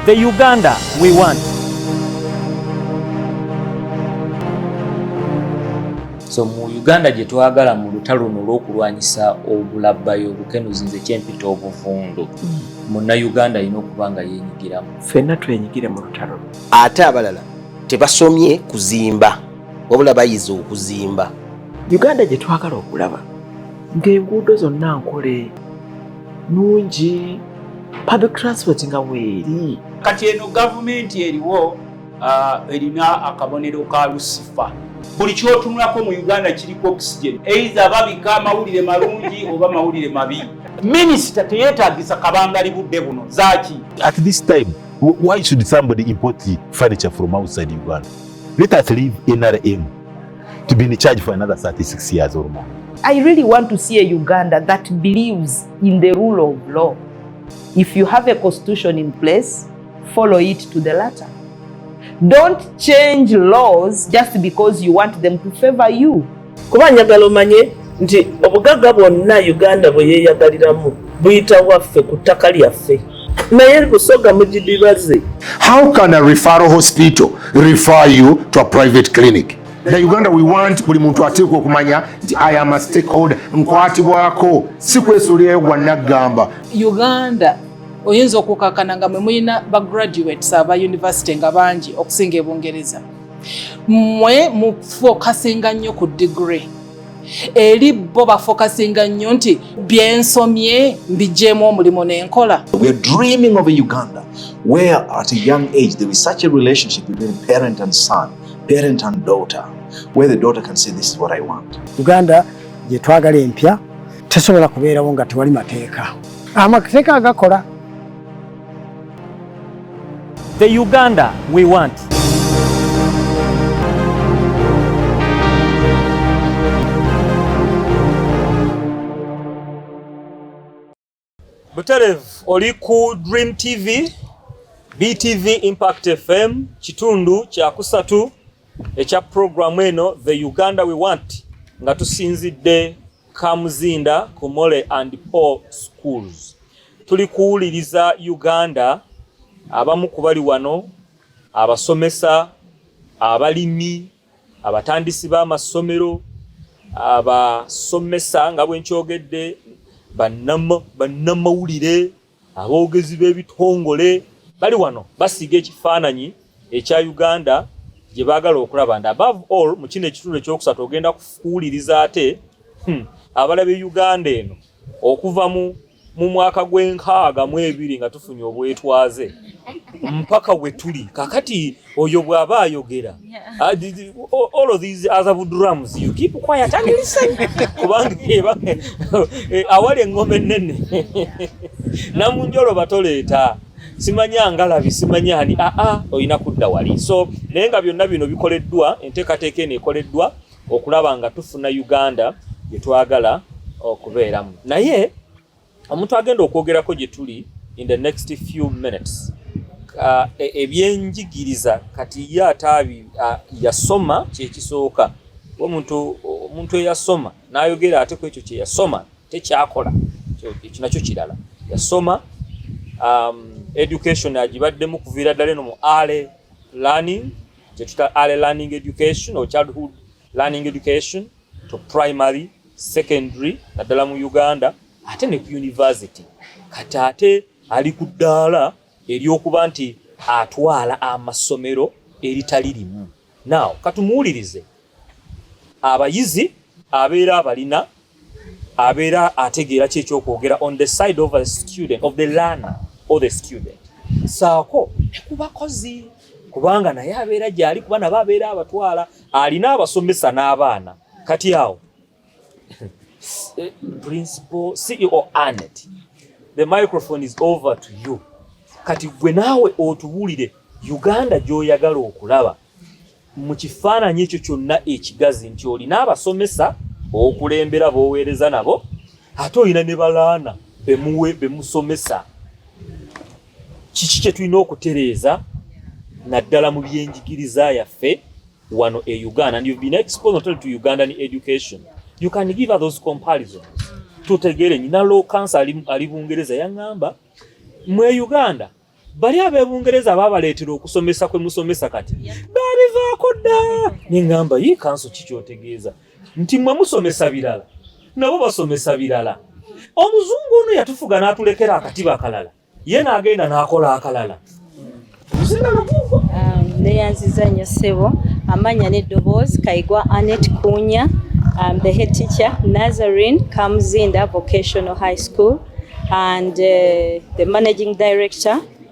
The Uganda we want. So mu Uganda gye twagala mu lutalo luno olw'okulwanyisa obulabbayi obukenuzi nze kyempita obuvundu mm. munnayuganda alina okuba nga yenyigiramu fenna twenyigire mu lutalo ate abalala tebasomye kuzimba wabula bayize okuzimba uganda gye twagala okulaba ng'enguudo zonna nkole nungi public transport nga weeri kati eno gavumenti eriwo uh, erina akabonero ka lusifa buli kyotunulako mu uganda kiriko oxygen eitha babika amawulire malungi oba mawulire mabi minisita teyetagisa kabangali budde buno zaki at this time why should somebody import furniture from outside uganda let us leave nrm to be in charge for another 36 years or more. I really want to see a Uganda that believes in the rule of law. If you have a constitution in place, follow it to the letter. Don't change laws just because you want them to favor you. Kuba njagala omanye nti obugagga bwonna Uganda bwe yeeyagaliramu buyita waffe ku ttaka lyaffe. naye busoga mugidibaze how can a referral hospital refer you to a private clinic na uganda we want buli muntu ateekwa okumanya nti i am a stakeholder nkwatibwako si kwesuulirayo gwanaggamba uganda oyinza okukakana nga mwe mulina ba graduates aba university nga bangi okusinga ebungereza mwe mufokasinga nnyo ku degree eri bo bafokasinga nnyo nti byensomye mbigyemu omulimu nenkola uganda gyetwagala empya tesobola kubeerawo nga tewali mateeka amateeka agakola The Uganda we want. Buterevu oli ku Dream TV, BTV Impact FM, kitundu kya kusatu ekya programu eno The Uganda we want nga tusinzidde Kamuzinda, Komole and Paul schools. Tuli kuwuliriza Uganda, abamu ku bali wano, abasomesa, abalimi, abatandisi b'amasomero, abasomesa nga bwe nkyogedde, bannamawulire. Aboogezi b'ebitongole bali wano basiiga ekifaananyi ekya Uganda gye baagala okulaba nti above all mu kino ekitundu ekyokusatu ogenda kuwuliriza ate hmm, abalabye Uganda eno okuva mu mu mwaka gw'enkaaga mu ebiri nga tufunye obwetwaze mpaka we tuli kakati oyo bwaba ayogera ah, all of these other drums you keep quiet and listen kubanga eh, awali engoma ennene namunjolo batoleeta simanyi angalabi simanyi ani aa ah, ah, olina kudda wali so naye nga byonna bino bikoleddwa enteekateeka eno ekoleddwa okulaba nga tufuna uganda gyetwagala okubeeramu naye omuntu agenda okwogerako gye tuli in the next few minutes uh, e, ebyenjigiriza kati ye ataabi uh, yasoma kyekisooka omuntu omuntu eyasoma n'ayogera ate ku ekyo kye yasoma tekyakola ekyo nakyo kirala yasoma um, education agibaddemu okuviira ddala eno mu ale learning kyetuta ale learning education or childhood learning education to primary secondary naddala mu Uganda ate ne ku university kati ate ali ku ddaala ery'okuba nti atwala amasomero eritali limu naaw katumuwulirize abayizi abeera abalina abeera ategeera ki ekyokwogera on the side of a student of the learner or the student saako ne ku bakozi kubanga naye abeera gyali kuba nabo abeera abatwala alina abasomesa n'abaana kati awo principal CEO Anet the microphone is over to you kati gwe naawe otuwulire Uganda gy'oyagala okulaba mu kifaananyi ekyo kyonna ekigazi nti olina abasomesa okulembera b'oweereza nabo ate olina ne balaana bemusomesa kiki kye tulina okutereeza naddala mu byenjigiriza yaffe wano e uganda and you've been exposed not only to ugandan education you can give us those comparisons tutegeere nyina low cancer ali, ali bungereza yaŋŋamba mwe uganda bali abebungereza babaleetera okusomesa kwe musomesa kati babivaako dda neŋŋamba yi kanso ki kyotegeeza nti mwe musomesa birala nabo basomesa birala omuzungu ono yatufuga natulekera akatiba akalala ye nagenda nakola akalala um, neyanziza nyo sebo amanya neddoboozi kaigwa anet kunya um, the head teacher nazarine kamzinda vocational high school and uh, the managing director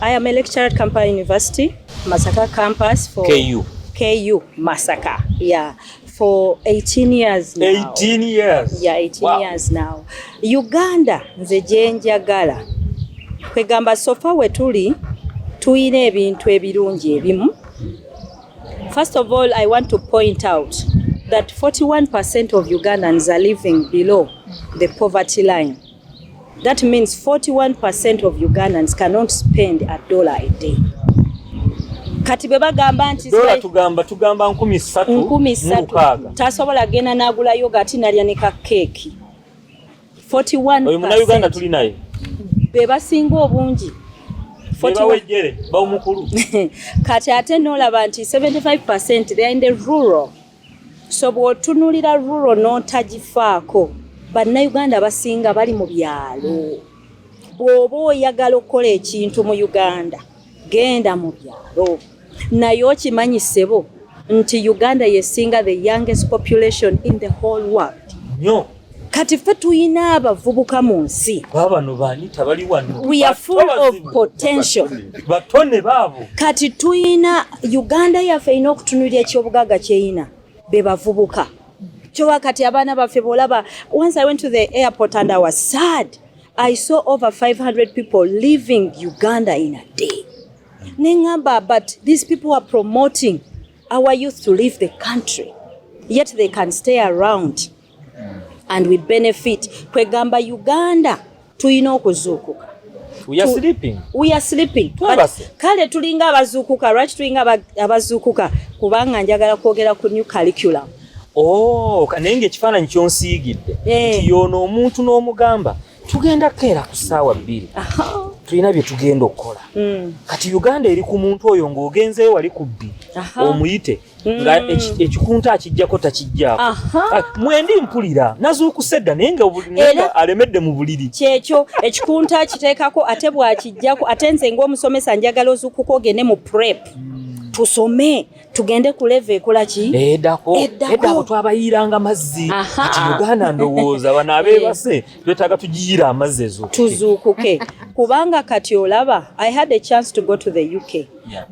I am a lecturer at Kampala University, Masaka campus for KU. KU Masaka. Yeah. For 18 years now. 18 years. Yeah, 18 wow. years now. Uganda nze jenjagala. Kwegamba sofa wetuli tulina ebintu ebirungi ebimu. First of all, I want to point out that 41% of Ugandans are living below the poverty line. That means 41% of Ugandans cannot spend a dollar a day. Kati bwe bagamba nti dola tugamba tugamba 3 3 tasobola gena nagula yogurt nalya ne ka cake 41 oyo muna Uganda tuli naye be basinga obungi bawumukulu kati ate nolaba nti 75 they are in the rural so bwotunulira ruro notagifaako bannayuganda abasinga bali mu byalo bw'oba oyagala okukola ekintu mu uganda genda mu byalo naye okimanyi ssebo nti uganda yesinga the youngest population in the whole world nyo kati ffe tulina abavubuka mu nsi babano bani tabali wano we are full of potential batone baabo kati tulina uganda yaffe erina okutunulira ekyobugaga kyeyina be bavubuka kyowa kati abaana baffe bolaba once i went to the airport and i was sad i saw over 500 people leaving uganda in a day nengamba but these people are promoting our youth to leave the country yet they can stay around and we benefit kwegamba Uganda tulina okuzuukuka we are sleeping we are sleeping kale tulinga abazuukuka lwaki tulinga abazuukuka kubanga njagala kwogera ku new curriculum oh naye ngaekifaananyi kyonsiigidde eh. nti yoono omuntu n'omugamba tugenda keera ku ssaawa bbiri tulina bye tugenda okukola hmm. kati uganda eri ku muntu oyo ng'ogenzeyo wali ku bbiri omuyite nga mm. ekikunta akijjako takijjako ah, mwendi mpulira nazuukuse dda naye nga alemedde mu buliri kyekyo ekikunta akiteekako ate bwakijjako ate nze ngaomusomesa njagala ozuukuka ogende mu prep mm. tusome tugende ku leve ekola ki edako edako twabayiranga mazzi ati uganda ndowooza bana abebase eh. twetaga tujiyira amazzi ezo tuzuukuke kubanga kati olaba i had a chance to go to the uk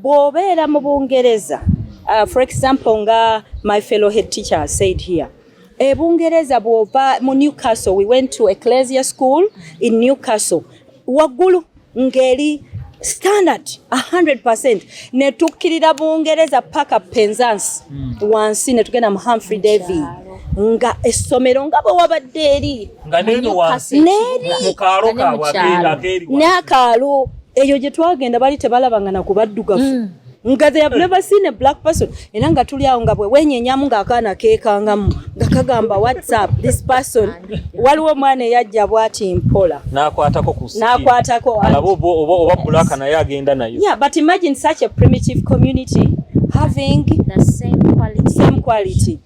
bw'obeera mu bungereza uh, for example nga my fellow head teacher said here e bungereza bw'ova mu newcastle we went to ecclesia school in newcastle waggulu ng'eri standard 100 ne tukkirira bungereza paka penzance hmm. wansi ne tugenda mu humphrey davy nga essomero nga bwe wabadde eri n'akaalo eyo gye twagenda bali tebalabanga na kubaddugavu mm. nga they have never seen a black person era nga tuli awo nga bwe wenyenyamu ng'akaana keekangamu nga kagamba whatsapp this person waliwo omwana eyajja bwati mpola nakwatako nakwatako oba bulaka naye agenda nayo yeah but imagine such a primitive community having the same quality, same quality.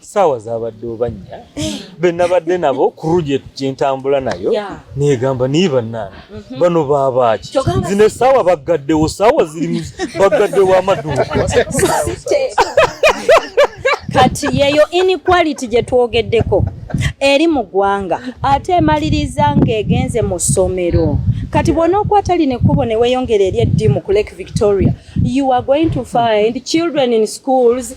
saawa zabadde obanya benabadde nabo ku ruje gyentambula nayo negamba naye banaana mhm. bano babaaki zino esaawa baggaddewo saawa zirimu baggaddewo amaduuka kati yeyo inequality gye twogeddeko eri mu ggwanga ate emaliriza ng'egenze mu ssomero kati bwona okwatali nekkubo ne weyongera eri eddimu ku lake victoria you are going to find children in schools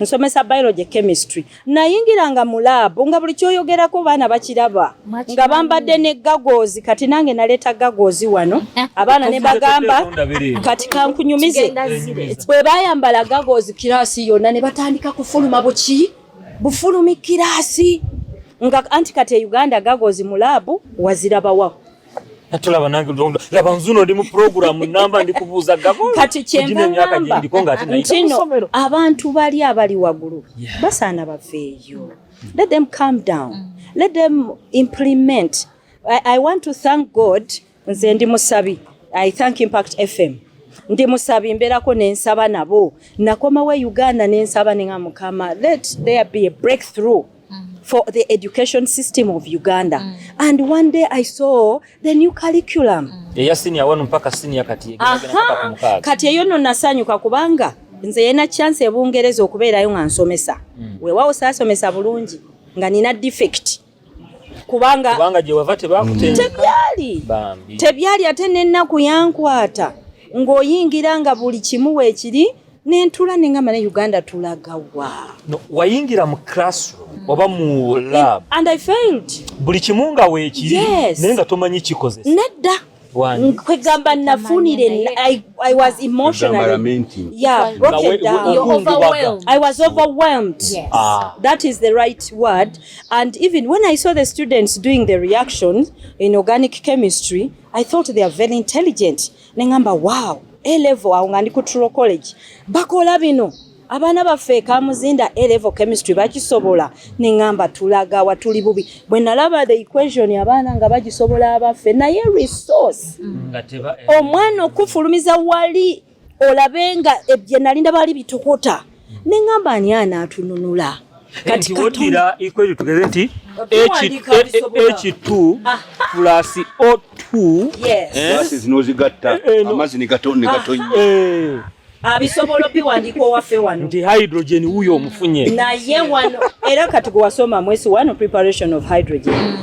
nsomesa biology chemistry nayingiranga mu laabu nga buli kyoyogerako baana bakiraba nga bambadde ne gagozi kati nange naleeta gagozi wano abaana ne bagamba kati kankunyumize bwe bayambala gagozi kiraasi yonna ne batandika kufuluma buki bufulumi kiraasi nga anti kati e uganda gagozi mu laabu wazirabawaho natulaba nange lutonda laba nzuno ndi mu programu namba ndi kubuuza gavana kati kyenva ngamba ntino abantu bali abali wagulu basaana baveeyo let them calm down mm. let them implement I, i want to thank god nze ndi musabi i thank impact fm ndi musabi mberako nensaba nabo nakomawo e uganda nensaba ninga mukama let there be a breakthrough Mm. for the education system of Uganda mm. and one day I saw the new curriculum mm. eya senior wanu mpaka senior kati kati eyo no nasanyuka kubanga nze yena chance ebungereza okubeerayo nga nsomesa mm. wewawo saasomesa bulungi nga nina defect kubanga kubanga gye wava tebakutenda tebyali tebyali ate n'ennaku yankwata ng'oyingira nga buli kimu weekiri nentula ninga mane uganda tulagawa no, wayingira mu classroom mm. oba mu lab It, and i failed buli kimu nga weekiri yes. naye nga tomanyi kikozesa nedda kwegamba nafunire I, i was emotionally yeah broken down You're overwhelmed. i was overwhelmed yes. ah. that is the right word and even when i saw the students doing the reactions in organic chemistry i thought they are very intelligent ne ngamba wow A level awo nga ndi ku Truro College bakola bino abaana baffe ekamuzinda A level chemistry bakisobola ne ngamba tulaga wa tuli bubi bwe nalaba the equation abaana nga bagisobola abaffe naye resource mm. omwana okufulumiza wali olabe nga ebye nalinda bali bitokota ne ngamba ani anaatununula kati oddira equation tugeze nti h2 plus o2 nozigatta amazzi negatonnegatonnya abisobola obiwandiika owaffe wano nti hydrogen wuyo omufunye naye wano era kati gwewasoma mwesi wano preparation of hydrogen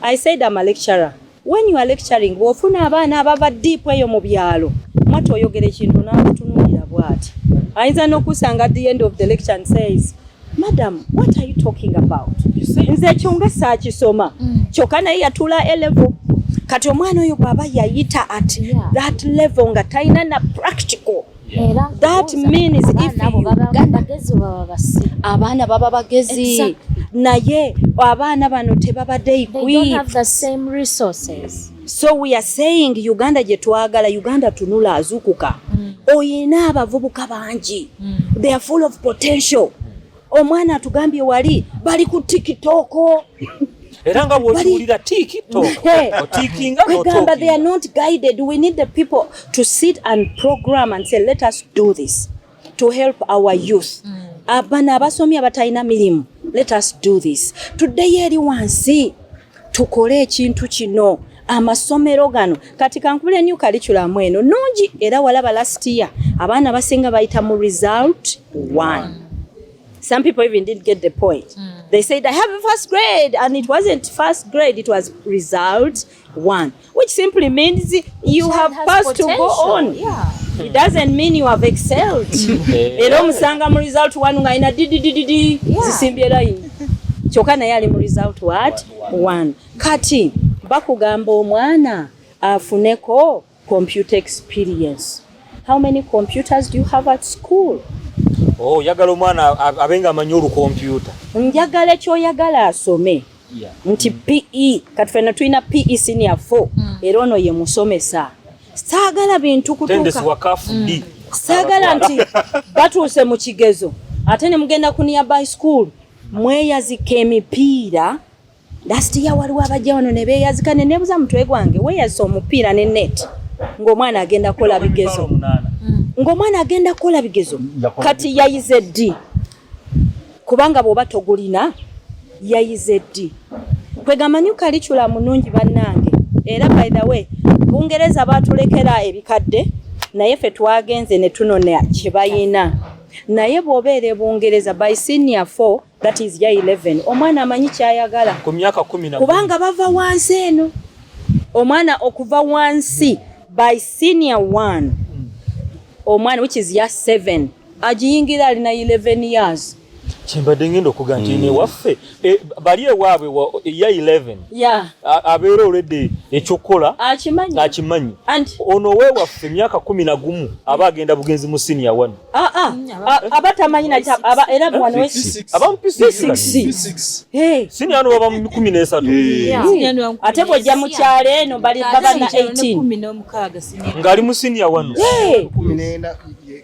I said I'm a lecturer. When you are lecturing, wofuna abaana abava deep eyo mu byalo. Mwatu oyogera ekintu n'akutunuulira bwati. Ayinza n'okusanga at the end of the lecture and says, Madam, what are you talking about? Nze ekyo nga saakisoma. Mm. Kyokka naye yatula A level. Kati omwana oyo bw'aba yayita at that level nga talina na practical. abaana baba bagezi naye abaana bano tebabadde so we are saying uganda gyetwagala uganda tunula azukuka mm. oyina abavubuka bangi mm. they are full of potential Omwana atugambye wali bali ku TikTok. Era nga bw'okiwulira TikTok. Otikinga n'otokinga. Kwegamba they are not guided. We need the people to sit and program and say let us do this to help our youth. Mm. Abana abasomye abatalina mirimu let us do this. Tuddeyo eri wansi. tukole ekintu kino amasomero gano kati kankubule new curriculum eno nungi era walaba last year abaana basinga bayita mu result one some people even didn't get the point mm. they said i have a first grade and it wasn't first grade it was result one which simply means you have passed to go on yeah. it doesn't mean you have excelled eh. era omusanga mu result one nga ina dididididi zisimbye line kyoka naye ali mu result what one kati bakugamba omwana afuneko computer experience how many computers do you have at school oyagala oh, omwana abenga amanyi olukompyuta njagala ekyoyagala asome nti PE kati fena tulina PE senior 4 mm. era ono ye musomesa saagala bintu kutuuka mm. saagala nti batuuse mu kigezo ate ne mugenda ku nearby school mweyazika emipiira last year waliwo abajja wano ne beeyazika ne nebuza mutwe gwange weeyazisa omupiira ne net ng'omwana agenda kukola bigezo mm. ng'omwana agenda kukola bigezo kati yayize ddi kubanga bwoba togulina yayize ddi kwegamba new curriculum nungi bannange era by the way bungereza batulekera ebikadde naye fe twagenze ne tunona kyebayina naye bwobeera ebungereza by senior 4 that is ya 11 omwana amanyi kyayagala kubanga bava wansi eno omwana okuva wansi by senior 1 omwana which is ya 7 agiyingira alina 11 years kyembadde ngenda okuga nti mm. newaffe eh, bali ewaabwe ya 11 abeera olwedde ekyokukola akimanyi ono wewaffe emyaka kumi na gumu aba agenda bugenzi mu siniya wano ah, ah. aba tamanyi siniya no baba mu kumi nesatu ate bwojja mukyalo eno baba na 18 ngaali mu siniya wano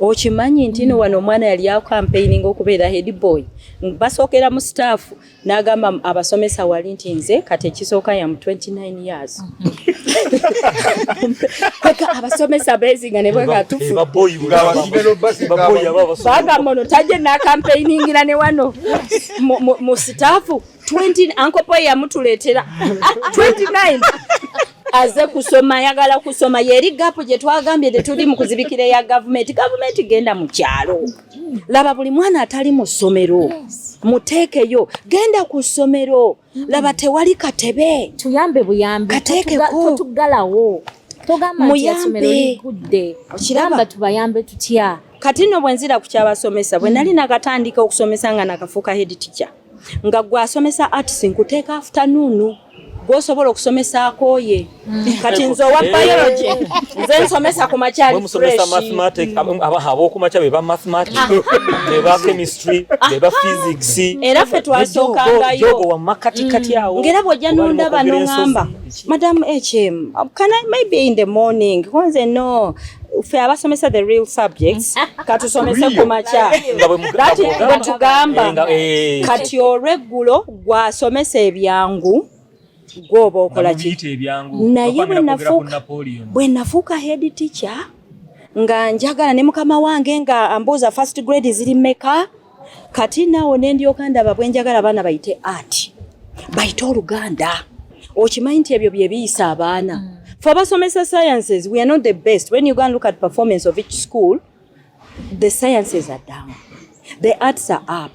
okimanyi ntino wano omwana yali akampeininga okubeera head boy basookera mu staff n'agamba abasomesa wali nti nze kati ekisooka yamu 29 years eka abasomesa bezinga ne bwegatufubagambo no tajje n'akampeiningira ne wano mu staff 20 ankopo yamutuletera 29 aze kusoma yagala kusoma yeri gapu gye twagambye nti tuli mu kuzibikira ya gavumenti gavumenti genda mu kyalo laba buli mwana atali mu ssomero muteekeyo genda ku ssomero laba tewali katebe tuyambe buyambi kateekekotugalawo muyambe okiraba tubayambe tutya kati no bwenzira ku kyabasomesa bwe nali nakatandika okusomesa nga nakafuuka head teacher nga gwe asomesa arts nkuteeka afternoon gwosobola okusomesaako ye mm. kati nze owa eh. biology nze nsomesa ku makyaliabokumakya beba mathematic beba chemistry beba physics era fe twasokangayogo wamakatikati mm. awo ngaera bwojja nondaba nongamba Madam HM, um, can I maybe in the morning? Once I know ffe abasomesa the real subjects katusomese ku makya bwetugamba eh, eh. kati olweggulo gwasomesa ebyangu gwoba okola ki naye bwe nafuuka head teacher nga njagala ne mukama wange nga ambuuza first grade ziri meka kati naawo ne ndyoka ndaba bwe njagala abaana bayite ati bayite oluganda okimanyi nti ebyo bye biyisa abaana mm. fe abasomesa sciences we are not the best when you go and look at performance of each school the sciences are down the arts are up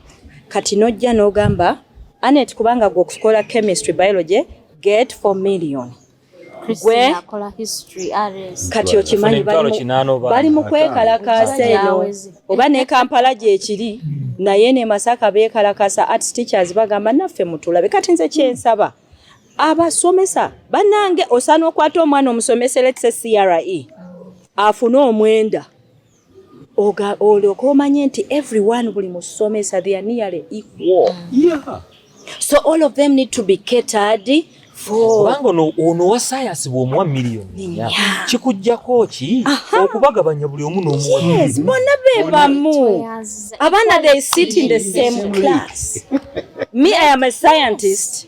kati nojja n'ogamba anet kubanga gwe okukola chemistry biology get for million kati okimanyi bali mu kwekalakaasa eno oba ne kampala gyekiri naye ne masaka bekalakasa art teachers bagamba naffe mutulabe kati nze kyensaba abasomesa banange osana okwata omwana omusomese letse cre afune omwenda olyoka omanye nti everyone buli musomesa they are nearly equal mm. yeah. so all of them need to be catered kubanga ono wa sayansi bwomuwa miliyoni kikujjako ki okubagabanya buli omu n'omuwes bona be bamu abaana they sit in the same class me i am a scientist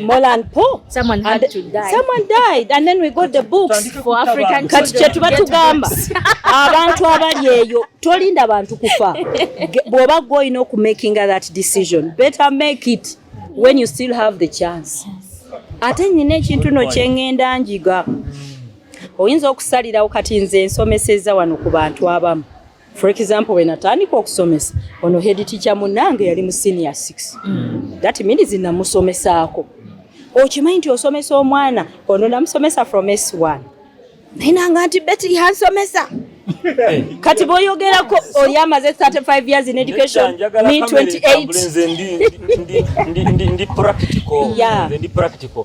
Molan po someone had and to die someone died and then we got the books for African kati kyetuba tugamba abantu abali eyo tolinda bantu kufa bwoba gwe olina okumakinga that decision better make it when you still have the chance ate nyina ekintu no kyengenda njiga oyinza okusalirawo kati nze ensomeseza wano ku bantu abamu for example when atandika okusomesa ono head teacher munange yali mu senior 6 mm. that means namusomesaako okimanyi nti osomesa omwana ono namusomesa from s1 naye nanga nti beti yansomesa kati boyogerako oli amaze 35 years in education me 28 ndi practical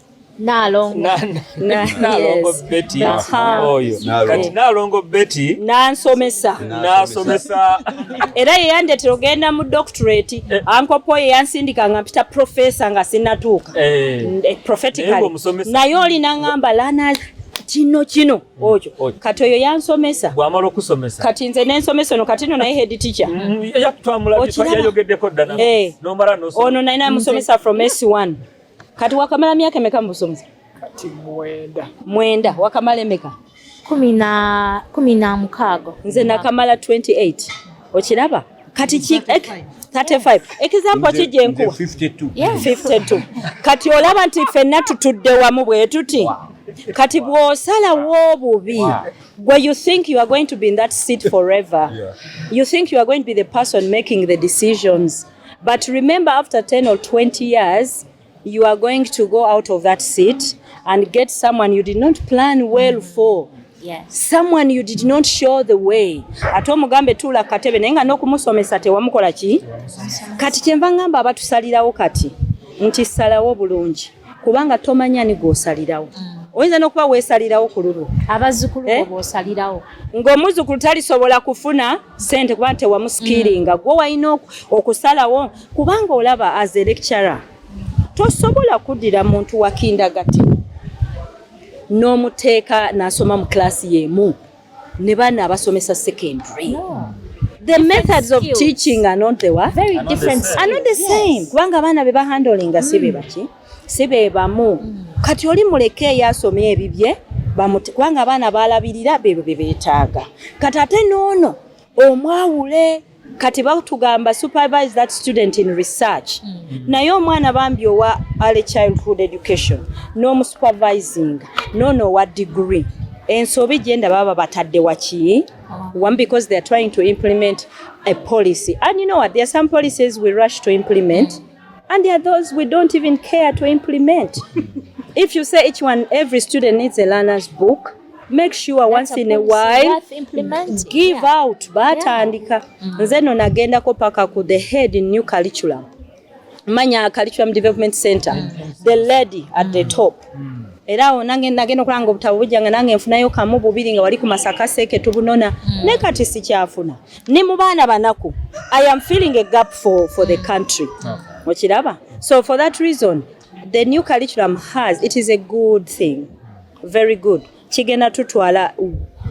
nalongo beti oyo kati nalongo beti nansomesa nasomesa era yeyandetera ogenda mu doctorate eh. ankopo yeyansindika nga mpita profesa nga sinatuuka eh. Eh, prophetically naye olina ngamba lana kino kino mm. okyo kati oyo yansomesa bwamala okusomesa kati nze nensomesa ono kati no naye head teacher mm, ono naye namusomesa from s1 Kati wakamala miaka meka mbusomuza? Kati mwenda. Mwenda wakamala meka? Kumi na kumi na mukago. Nze nakamala 28. Okiraba? Kati ki 35. Example ki je nkuwa? 52. Yeah. 52. Kati olaba nti fenna tutudde wamu bwe tuti. Wow. kati bw'osalawo obubi gwe you think you are going to be in that seat forever yeah. you think you are going to be the person making the decisions But remember after 10 or 20 years you are going to go out of that seat and get someone you did not plan well for. Yes. Someone you did not show the way. Ate omugambe tuula katebe naye nga n'okumusomesa tewamukola ki? Kati kyenva ngamba abatusalirawo kati nti salawo bulungi. kubanga tomanya ni gwosalirawo mm. oyinza nokuba wesalirawo ku lulwo abazzukulu eh? bosalirawo ngaomuzzukulu talisobola kufuna sente kubanga tewamusikiringa mm. gwe walina okusalawo kubanga olaba as a lecturer tosobola kuddira muntu wakindagati n'omuteeka nasoma mu kilasi yemu ne baana abasomesa secondary no. the methods of teaching are not the what? Very are different. Are not the same. Kubanga abaana be bahandolinga si be mm. baki si be bamu mm. kati oli muleke eyo asoma ebibye kubanga abaana balabirira bebyo bye beetaaga kati ate n'ono omwawule kati batugamba supervise that student in research mm -hmm. naye omwana bambi owa early childhood education n'omusupervising nono owa degree ensobi gyenda baba batadde waki oh. one because they are trying to implement a policy and you know what there are some policies we rush to implement mm -hmm. And there are those we don't even care to implement. If you say each one, every student needs a learner's book, make sure once in a while give yeah. out batandika yeah. mm -hmm. nze no nagendako paka ku the head in new curriculum manya curriculum development center mm -hmm. the lady at mm -hmm. the top mm -hmm. era awo nange nagenda okulanga obutabo bujja nga nange nfunayo kamu bubiri nga wali ku masaka seeke tubunona mm. ne kati sikyafuna ni mu baana banaku i am feeling a gap for, for the country okiraba okay. so for that reason the new curriculum has it is a good thing very good kigenda tutwala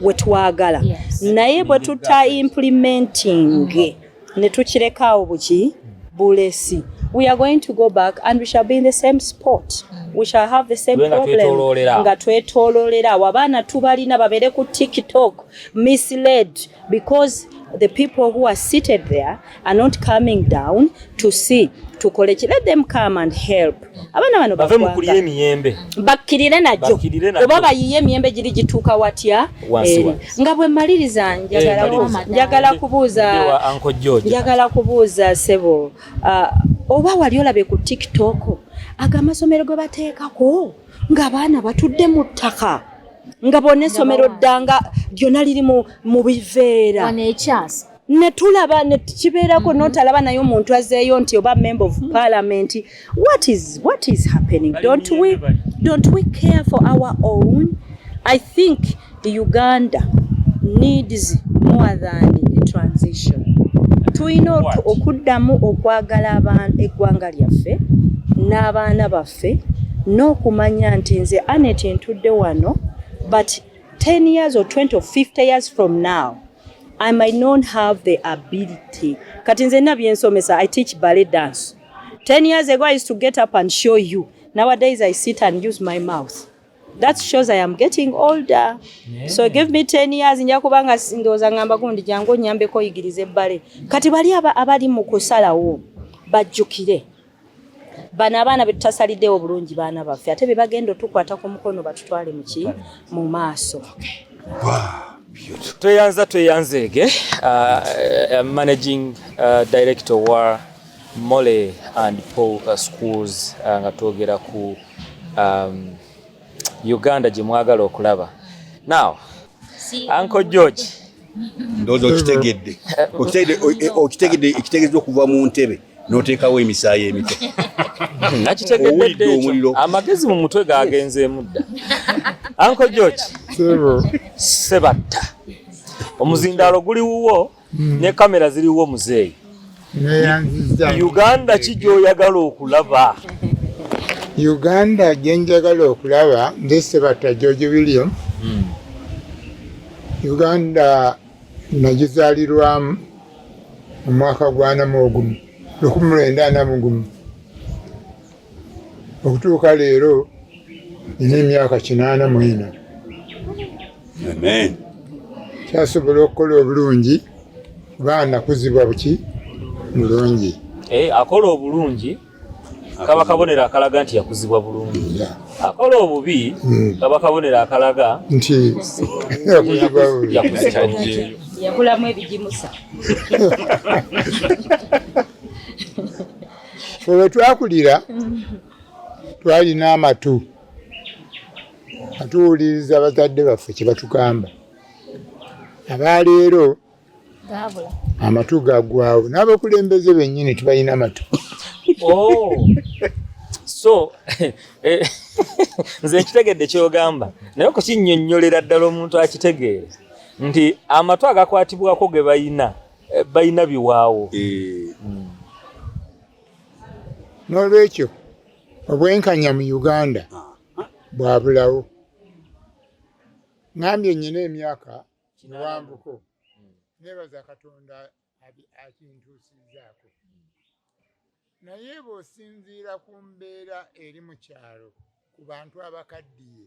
wetwagala yes. naye bwe tuta implementing mm -hmm. ne tukirekawo buki bulesi we are going to go back and we shall be in the same spot we shall have the same problem nga twetololera awo abaana tubalina babere ku tiktok misled because the people who are seated there are not coming down to see tukole ki let them come and help abana bano bave mukulira emiyembe bakirire najo oba bayiye emiyembe giri gituuka watya eri nga bwe maliriza eh, njagala njagala kubuuza njagala kubuuza sebo ah, oba wali olabye ku tiktok ago amasomero gwe bateekako ng'abaana batudde mu ttaka nga bona essomero ddanga lyona liri mu biveera netulaba nekibeerako mm-hmm. notalaba naye omuntu azeeyo nti oba member of parliament what is, what is happening don't we, don't we care for our own i think The Uganda needs more than a transition. Tulina okuddamu okwagala abantu eggwanga lyaffe n'abaana baffe n'okumanya nti nze Anet ntudde wano but 10 years or 20 or 50 years from now I might not have the ability. Kati nze nina byensomesa I teach ballet dance. 10 years ago I used to get up and show you. Nowadays I sit and use my mouth. That shows I am getting older. Yeah. So give me 10 years nja kubanga ndoza ngamba gundi jangu nyambe ko yigirize bale. Kati bali aba abali mu kusala wo bajukire. Bana abana betasalide obulungi bana bafe. Ate bebagendo tukwata ku mukono batutwale muki mu maso. Okay. Wow. tweyanza tweyanzeege uh, uh, managing uh, director wa Mole and Paul uh, schools uh, nga twogera ku um, Uganda gye mwagala okulaba now Uncle George ndoza okitegedde okitegedde ekitegedde okuva mu ntebe n'oteekawo emisaayi emito nakitegedde omuliro amagezi mu mutwe gagenzeemu dda Uncle George sebatta omuzindaalo guli wuwo mm. ne kamera ziriwo muzeeyi uganda ki gyoyagala okulaba uganda gyenjagala okulaba ndisebata george william mm. uganda nagizalirwamu omwaka gwanamuogumu lukumi lwenda namugumu okutuuka leero nina emyaka kinaana mu ena kyasobola okukola obulungi kuba nakuzibwa buki mulungi eh, akola obulungi kaba kabonero akalaga nti yakuzibwa bulungi akola obubi hmm. kaba kabonero akalaga nti yakuzibwa bulungi yakulamu ebigimusa fe wetwakulira twalina amatu atuwuliriza bazadde baffe kyebatugamba abaleero amatu gagwawo n'abakulembeze bennyini tibalina amatu oh. so eh, nze nkitegedde kyogamba naye okukinyonyolera ddala omuntu akitegeere nti amatu agakwatibwako ge balina eh, balina biwaawo eh. hmm. n'olwekyo obwenkanya mu uganda ah, ah. bwabulawo ngambye nyina emyaka kiwambuko hmm. nebaza katonda akintuusizaako naye bw'osinziira ku mbeera eri mu kyalo ku bantu abakaddiye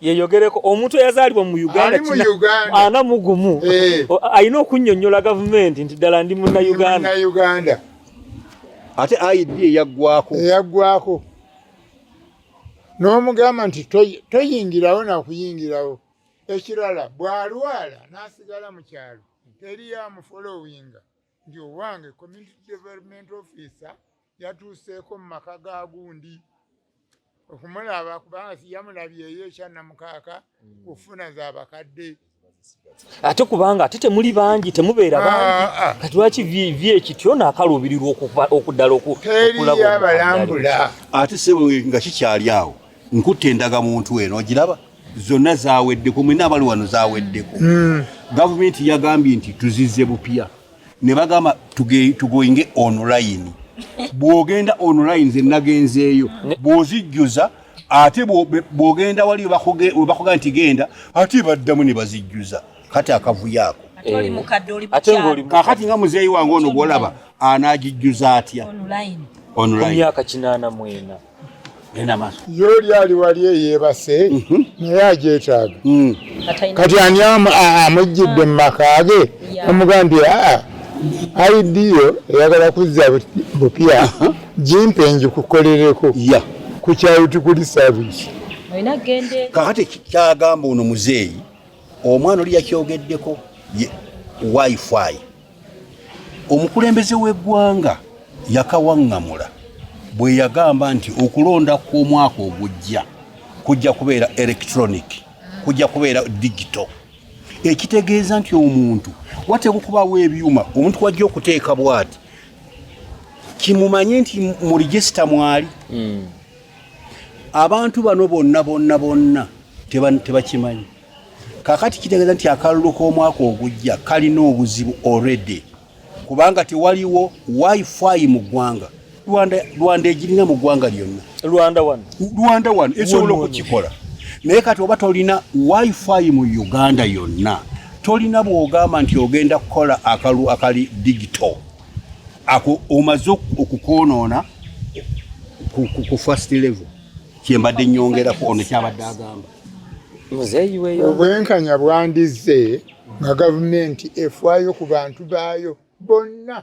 yeyogereko omuntu eyazaalibwa mu uganda ana mugumu eh. alina okunyonyola gavumenti nti ddala ndi munauganda ate aid eyaggwako eyaggwako n'omugamba nti toyingirawo nakuyingirawo ekirala bw'alwala n'asigala mu kyalo teri yamufolowinga nti owange community development officer yatuuseeko mu maka ga gundi okumulaba kubanga siyamulabyeyo ekyanamukaaka mm. kufuna za bakadde ate kubanga ate temuli bangi temubeera ah, bangi ah, ah. kati lwaki vi ekityo naakaluubirirwa okuddala okukulaba abalambula ate sebo nga kikyali awo nkutte endagamuntu eno ogiraba zonna zaweddeko mwena abali wano zaweddeko hmm. gavumenti yagambye nti tuzize bupya ne bagamba tugoinge online bwogenda online ze nagenzeeyo bwozijjuza ate bwogenda wali webakuga nti genda ate baddamu ne bazijjuza kati akavuyo ako eh. kakati nga muzeeyi wange ono gwolaba anagijjuza atya online ye oli ali wali eyebase mhm. naye ajetaaga mm. kati ani amujjidde mu maka ge omugambye aa aidiyo eyagala kuzza bupya jimpe njikukolereko ku kyayo tukuli saavisi kakati kyagamba ono muzeeyi omwana oli yakyogeddeko wifi omukulembeze w'eggwanga yakawaŋŋamula bwe yagamba nti okulonda kw'omwaka ogujja kujja kubeera electronic kujja kubeera digito ekitegeeza nti omuntu wateeka okubaawo ebyuma omuntu wajja okuteeka bwati kimumanye nti mu regisita mwali hmm. abantu bano bonna bonna bonna tebakimanyi kakati kitegeeza nti akalulu k'omwaka ogujja kalina obuzibu already kubanga tewaliwo wifi mu ggwanga rwanda rwanda egirina mu ggwanga lyonna rwanda one rwanda one esobola okukikola naye kati oba tolina wifi mu uganda yonna tolina bwogamba nti ogenda kukola akalu akali digito ako omaze okukwonoona ku fast level kyembadde nyongerako ono kyabadde agamba obwenkanya bwandizze nga gavumenti efwayo ku bantu baayo bonna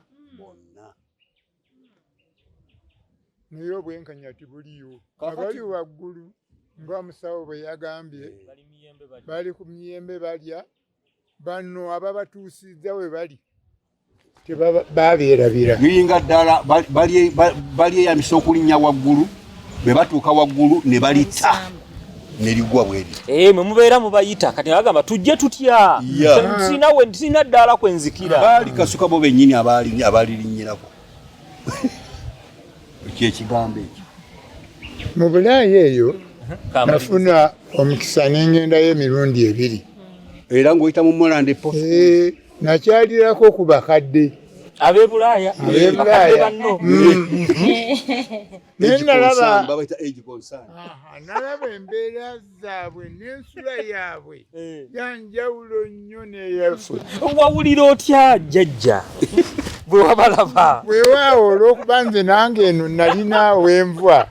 naye obwenkanya tibuliyo abali waggulu nga omusawo bwe yagambye bali ku miyembe balya banno ababatuusizza we bali tebabeerabira yuyinga ddala balyeyambisa okulinnya waggulu bwe batuuka waggulu ne balitta neligwa bweri eh mwe mubeera mubayita kati bagamba tujje tutya sina we sina ddala kwenzikira bali kasuka bo benyini abali abali linyirako kyekigambo ekyo mu bulaaya eyo nafuna omukisa nengendayo emirundi ebiri era ngaoyita mu molande po eh, nakyalirako ku bakadde abebulaaya abebulaaya naye nalaba nalaba embeera zaabwe n'ensula yaabwe eh. yanjawulo nnyo neyaffe wawulira otya jajja bwe wabalaba weewaawo olw'okuba nze nange eno nalina wenvwa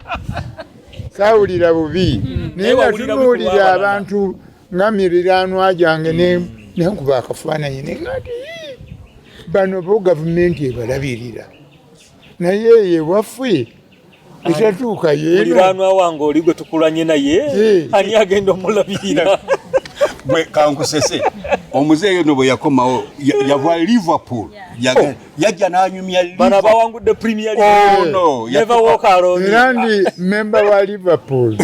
saawulira bubi hmm. naye nga tunuulira abantu nga miriranwa gyange nenkuba akafaananyi nengati bano bo gavumenti ebalabirira naye eyo ewaffe ekyatuuka yemuliraanwa wange oli gwe tukulanye naye ani agenda omulabirira gwe kankusese omuzeeyo no bwe yakomawo yava liverpool oh. yajja nanyumya bana bawangudde premier oh, no. neva wokaloni era ndi memba wa liverpool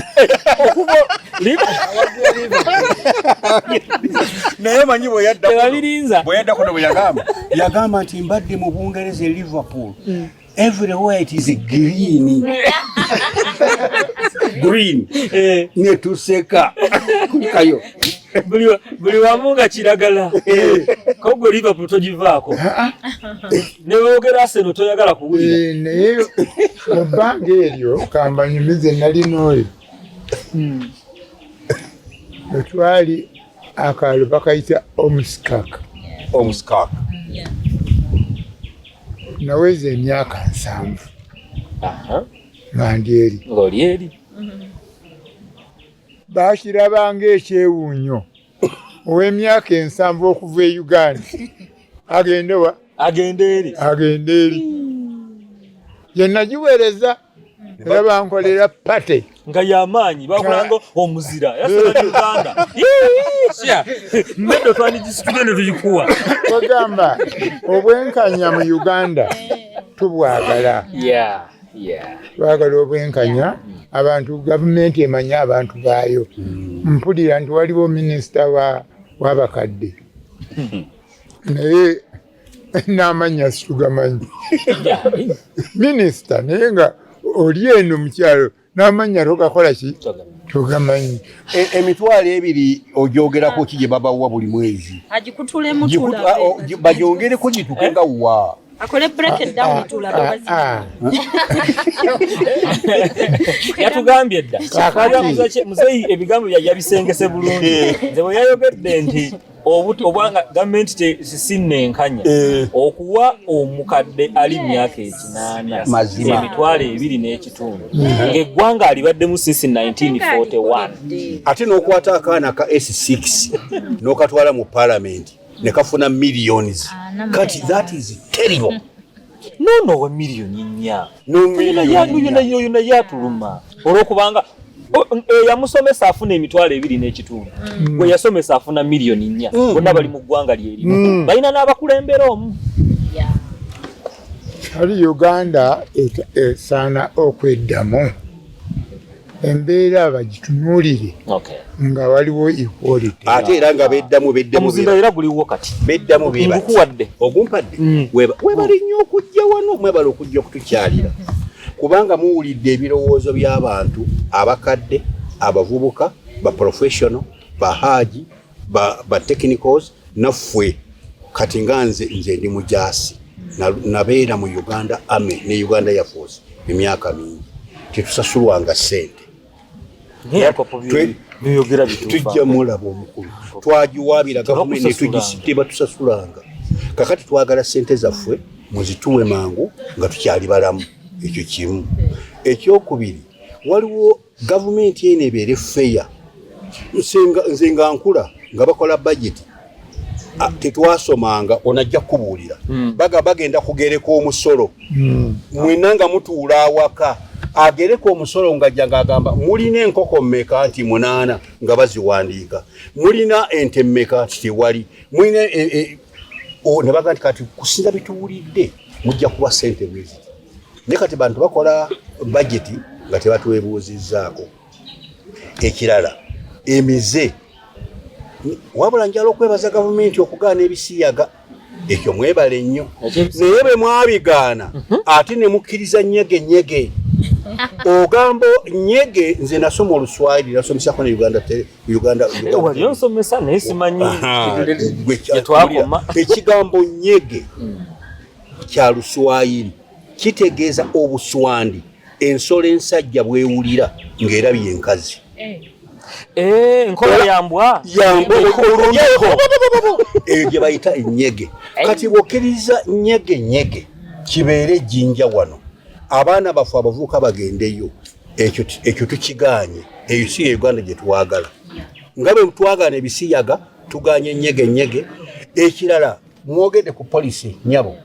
naye manyi bweyadda bweyadda kuno bwe yagamba yagamba nti mbadde mu bungereza e liverpool mm. everywhere it is green green eh. netuseka kayo buli wamu nga kiragala eh. kogwe liverpool togivaako ah, ah. newogera aseno toyagala kuwulira eh, naye mubbanga eryo kambanyumize nalina oyo hmm. wetwali akaalo bakayita omuskak omuskak naweza emyaka nsanvu nga ndi eri ngoli eri bakirabanga ekyewuunyo ow'emyaka ensanvu okuva e uganda agende wa agende eri agende eri yenagiwereza era bankolera pate nga yamaanyi bakulanga omuzira era sibali uganda meddo twandigisitule ne tuyikuwa bagamba obwenkanya mu uganda tubwagala twagala obwenkanya abantu gavumenti emanye abantu baayo hmm. mpulira nti waliwo minisita wabakadde hmm. naye n'amannya situgamanyi minisita naye nga oli eno mukyalo n'amannya togakola ki togamanyi e, emitwalo ebiri ogyogerako ki gye babawa buli mwezi bagyongereko gituke nga wa akole break it down ah, tula ah, ah. yatugambye dda kakati muzei ebigambo bya yabisengese bulungi nze bwe yayogedde nti obuto obwanga gavumenti tesinnenkanya eh. okuwa omukadde ali myaka ekinaana emitwalo ebiri n'ekitundu eh. ng'eggwanga alibaddemu sinsi 1941 ate n'okwata akaana ka s6 n'okatwala mu palamenti ne kafuna millions kati that is terrible nono owe miliyoni nnya yona yatuluma olwokubanga eyamusomesa afuna emitwalo ebiri n'ekitundu mm. gwe yasomesa afuna miliyoni nnya mm. bonna bali mu ggwanga lyerimu mm. balina n'abakulembera omu ali uganda esaana okweddamu embeera abagitunuulire nga waliwo ate era nga beddamu beddamuomuzinda era guliwo kati beddamu ngukuwadde ogumpadde mm. webale nnyo okujja wano mwebale okujja okutukyalira kubanga muwulidde ebirowoozo by'abantu abakadde abavubuka baprofessional bahaaji ba, ba technicals nafwe kati nga nze nze ndi mujasi nabeera mu uganda army ne uganda yafosi emyaka mingi tetusasulwanga sente tujja mulaba omukulu twagiwabira gavumenti netugiteebatusasulanga kakati twagala sente zaffe muzituwe mangu nga tukyali balamu ekyo kimu ekyokubiri waliwo gavumenti eno ebeere feya nze nga nkula nga bakola bajeti ah, tetwasomanga onajja kukubuulira hmm. baga bagenda kugereka omusolo hmm. mwena nga mutuula awaka agereka omusolo ngajja ngaagamba mulina enkoko mmeka nti munaana nga baziwandiika mulina ente mmeka nti tewali mulina e, e, nebaga nti kati kusinza bituwulidde mujja kuba sente bweziti ne kati bantu bakola bajeti nga tebatwebuuzizzaako ekirala emize wabula njala okwebaza gavumenti okugaana ebisiyaga ekyo mwebale nnyo naye bwe mwabigaana mhm. ate ne mukkiriza nyege nyege ogambo nyege nze nasoma oluswayiri nasomesaako ne uganda ekigambo nyege mm. kya luswayiri kitegeeza obuswandi ensolo ensajja bwewulira ng'era byenkazi eh. Eh, nkola yambwa yambwa oluleko eyo gye bayita enyege eh. kati bwokiriza nyege nyege kibeere ejjinja wano abaana baffe abavuuka bagendeyo ekyo tukiganye eyo si ye uganda gye twagala nga bwe twagana ebisiyaga tuganye nyege nyege ekirala mwogede ku policy nyabo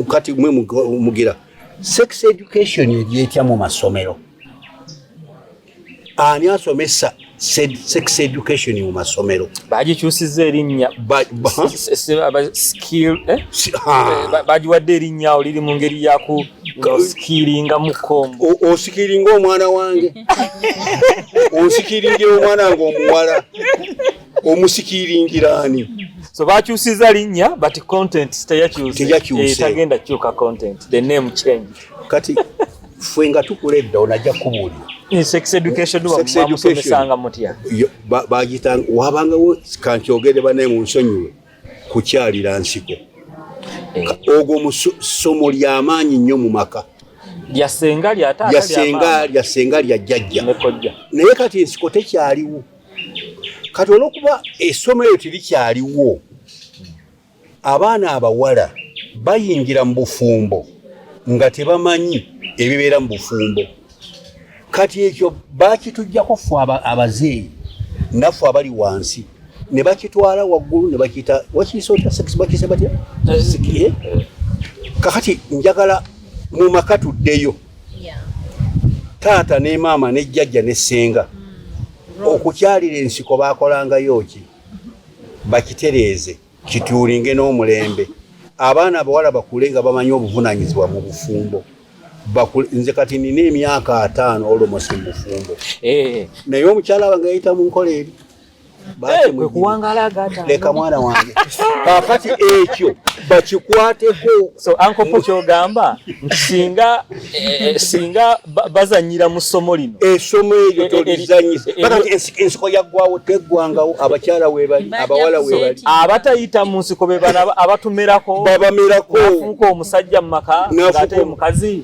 kati mwe mugira sex education egyetya mu masomero ani asomesa sex education mu masomero bagikyusiza erinnya bagiwadde erinnya oliri mu ngeri yaku osikiringa mukom osikiringa omwana wange osikiringira omwana nga omuwala omusikiringira ani so bakyusiza linnya but content teyakyusetagenda eh, kyuka content the name change kati fwe nga tukula edda onajja kubuulira eh, sex educationmusomesanga mutya bagitanga wabangawo kankyogere banaye mu nsonyiwe kukyalira nsiko eh. ogwo mu ssomo lyamaanyi nnyo mu maka lyasenga lyatayasenga lyajjajja naye kati ensiko tekyaliwo kati olwokuba essomo eyo tirikyaliwo abaana abawala bayingira mu bufumbo nga tebamanyi ebibeera mu bufumbo kati ekyo bakitujjako fe abazeeyi naffe abali wansi ne bakitwala waggulu ne bakiyita wakiisaotasekisebatya kakati njagala mu maka tuddeyo taata ne maama ne jjajja ne ssenga mm. okukyalira ensiko baakolangayo ki bakitereeze kituulinge n'omulembe abaana abawala bakule nga bamanyi obuvunanyizibwa mu bufumbo nze kati nina emyaka ataano olomosi mubufumbo eh. naye omukyala wange yayita mu nkola eri leka mwana wange kakati ekyo bakikwateko so ankopo kyogamba nti singa eh, eh, singa bazanyira mu ssomo lino essomo eh, eryo tolizanyisa ensiko yaggwawo teggwangawo abakyala webali abawala webali abatayita mu nsiko bebana abatumerako babamerako nafuuka omusajja mu maka ngate mukazi